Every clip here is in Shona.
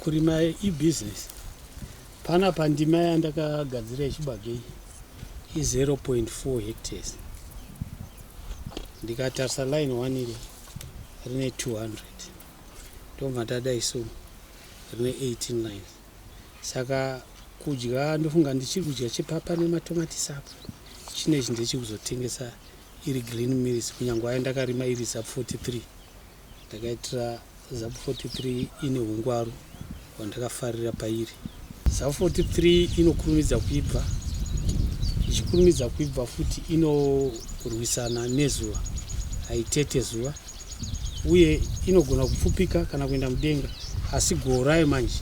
Kurima ibusiness. Panapa ndima yandakagadzira yechibage iyi i 0.4 hectares. Ndikatarisa line one iri rine 200 ndobva ndadai so rine 18 lines saka kudya ndofunga ndichiri kudya chepapa nematomatisi apo chine chi ndechekuzotengesa iri green mills kunyange ayo ndakarima iri sub 43 Ndakaitira Zapu 43 ine hungwaru hwandakafarira pairi. Zapu 43 inokurumidza kuibva, ichikurumidza kuibva futi inorwisana nezuva, haitete zuva uye inogona kupfupika kana kuenda mudenga, asi goho rayo manje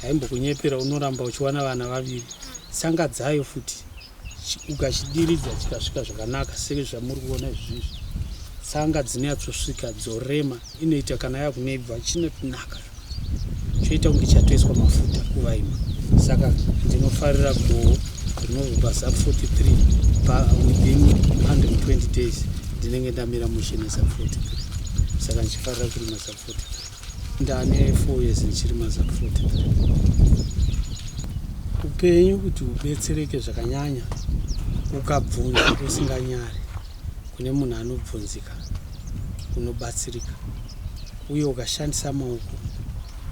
haimbokunyepera, unoramba uchiwana vana vaviri tsanga dzayo futi. ukachidiridza chikasvika zvakanaka sezvamuri kuona izvizvi tsanga dzinonyatsosvika dzorema inoita kana yakunebva chinotinaka choita kunge chatoiswa mafuta kuvaima saka ndinofarira goho rinozobva zap 43 pa within 120 days ndinenge ndamira mushini zap 43 saka ndichifarira kurima zap 43 ndane 4 years ndichiri mazakufoti upenyu kuti ubetsereke zvakanyanya ukabvunza usinganyari kune munhu anobvunzika unobatsirika uye ukashandisa maoko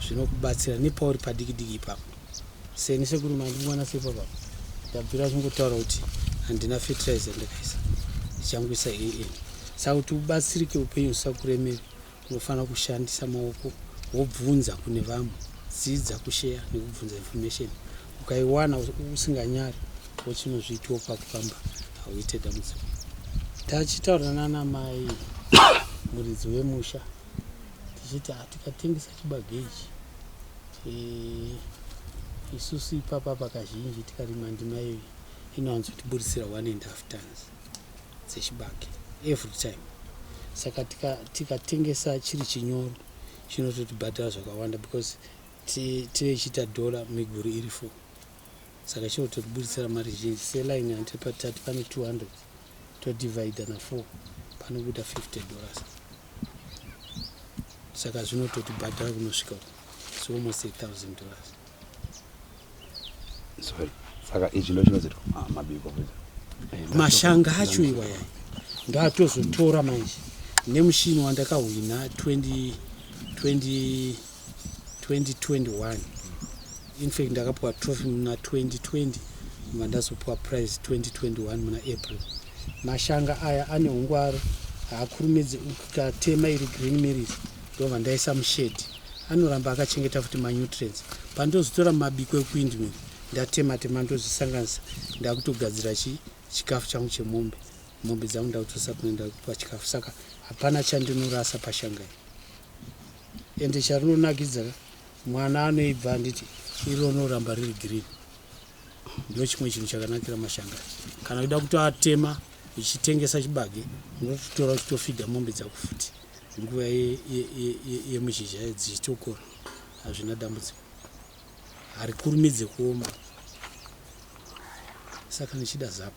zvinokubatsira nepauri padiki diki ipapo seni sekuri mandimwana sepapa ndabvira zvingotaura kuti handina fertilizer ndikaisa ndichangoisa an saka kuti ubatsirike upenyu usakuremeri Unofanira kushandisa maoko wobvunza kune vamwe. Dzidza kusheya nekubvunza information. Ukaiwana usinganyari wochinozviitiwo pako pamba hauite dambudziko. Tachitaura nana mai muridzi wemusha tichiti hatikatengesa chibageji eh, isusu ipapa pakazhinji tikarima ndima iyo inowanzotiburitsira one and half tons dzechibage every time saka tikatengesa tika chiri chinyoro chinototibhadhara zvakawanda because tive chiita dhora miguru iri fo saka chinototiburitsira mari zhinji seline antipatat pane 200 todivide na 4 panobuda 50 dollars saka zvinototibhadhara kunosvika so almost 8000 dollars sorry saka izvi ndo chinozoitwa ah, mabiko eh, mashanga acho iwaya ndoatozotora manje nemushini wandakahwina 2021 infact ndakapiwa trophy muna 2020 mva ndazopiwa prize 2021 muna april mashanga aya ane ungwaro haakurumidzi ukatema iri green miris ndobva ndaisa mushedi anoramba akachengeta futi manutrients pandozotora mabiko ekuindmil ndatema tema ndozvisanganisa ndakutogadzira chi chikafu changu chemombe mombe dzangu ndakutosa kuenda pachikafu saka hapana chandinorasa pashangai ende charinonakidza mwana anoibva handiti iro rinoramba riri green ndo chimwe chinhu chakanakira mashanga kana uida kutoatema uchitengesa chibage unototora uchitofidha mombe dzakufuti Nguva yemuzhizha dzichitokora hazvina dambudziko, harikurumidze kuoma saka ndichida zapu.